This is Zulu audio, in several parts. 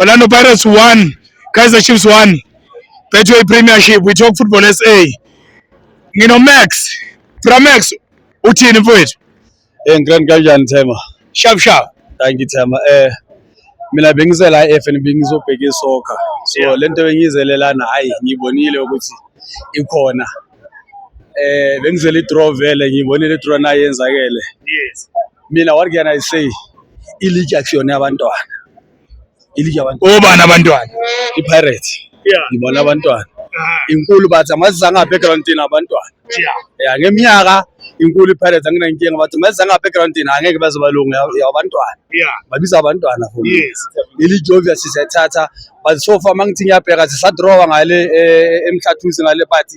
Orlando Pirates 1, Kaizer Chiefs 1. Betway Premiership, we talk football SA. Ngino Max, Pramax uthini mfowethu? Eh ngikrani kanjani Thema? Sharp sharp. Thank you Thema. Eh mina bengize la eFNB ngizobheka isoccer. So lento bengizelelana hayi ngibonile ukuthi ikhona. eh bengizele i-draw vele ngiyibonile i-draw nayo yenzakele yes mina what can i say iligi akusiyona yabantwana iligi yabantwana obani abantwana i-pirate yeah ngibona abantwana ah. inkulu bathi amaziza ngabackgroundini abantwana ya ngeminyaka inkulu i-pirate anginankinga bathi maziza ngabackgroundini angeke bazobalunga yabantwana babiza abantwana for iligi obvious siyathatha but so far mangithi ngiyabheka sisadrawa ngale eh, emhlathuzi ngale but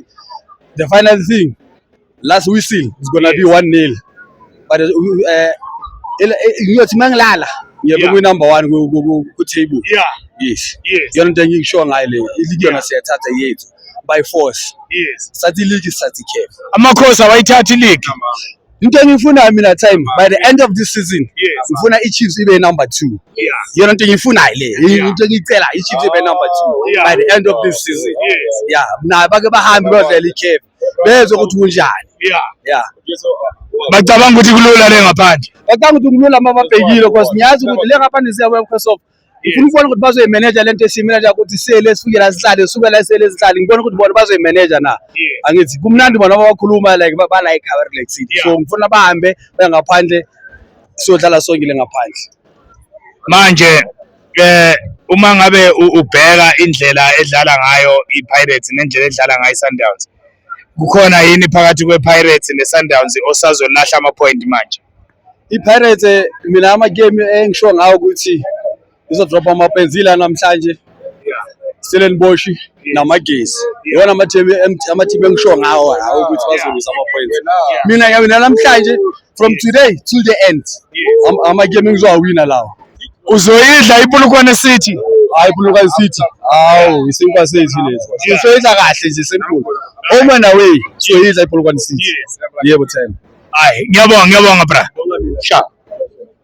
the final thing last whistle is gonna be 1 nil but eh, ngiyothi mangilala ngiyabe Yeah. kwi-number one ku- ku- ku- ku-table Yeah, yes yes, yona into engikusho ngayo le iligi yona siyathatha yethu by force yes. sathi iligi sathi ikhefu Amakhosi awayithathi league. into engiyifunayo mina time by the end of this season ngifuna i-chiefs ibe number two yona nto engiyifunayo le into engiyicela i-chiefs ibe number two oh, by the end of this season ya nayo bake bahambe badlala ikhefu bezwe ukuthi kunjani ya bacabanga ukuthi kulula le ngaphandle bacabanga ukuthi kulula uma babhekile because ngiyazi ukuthi le ngaphandle siyabuya mkhosofa ngifuna ukubona ukuthi bazoyimeneja lento esiyimeneja ukuthi sele esukela sihlale sukela sele sihlale ngibona ukuthi bona bazoyimeneja na angithi kumnandi bona bakhuluma like ba like our relaxing so ngifuna bahambe bengaphandle siyodlala songile ngaphandle manje eh uma ngabe ubheka indlela edlala ngayo iPirates nendlela edlala ngayo iSundowns kukhona yini phakathi kwePirates neSundowns osazolahla ama point manje I-Pirates eh, mina ama-game engisho ngawo ukuthi izodropha ama-points ila namhlanje Stellenbosch namagesi iwona ama-team ama-team engisho ngawo lawo ukuthi bazolwisa ama-points mina mina namhlanje from today till the end Am- ama-game engizowawina lawo uzoyidla ipulukwane city hayi pulukwane city awu isinkwa sethu lesi sizoyidla kahle nje simple home and away sizoyidla ipulukwane city yebo thena hayi ngiyabonga ngiyabonga bra sha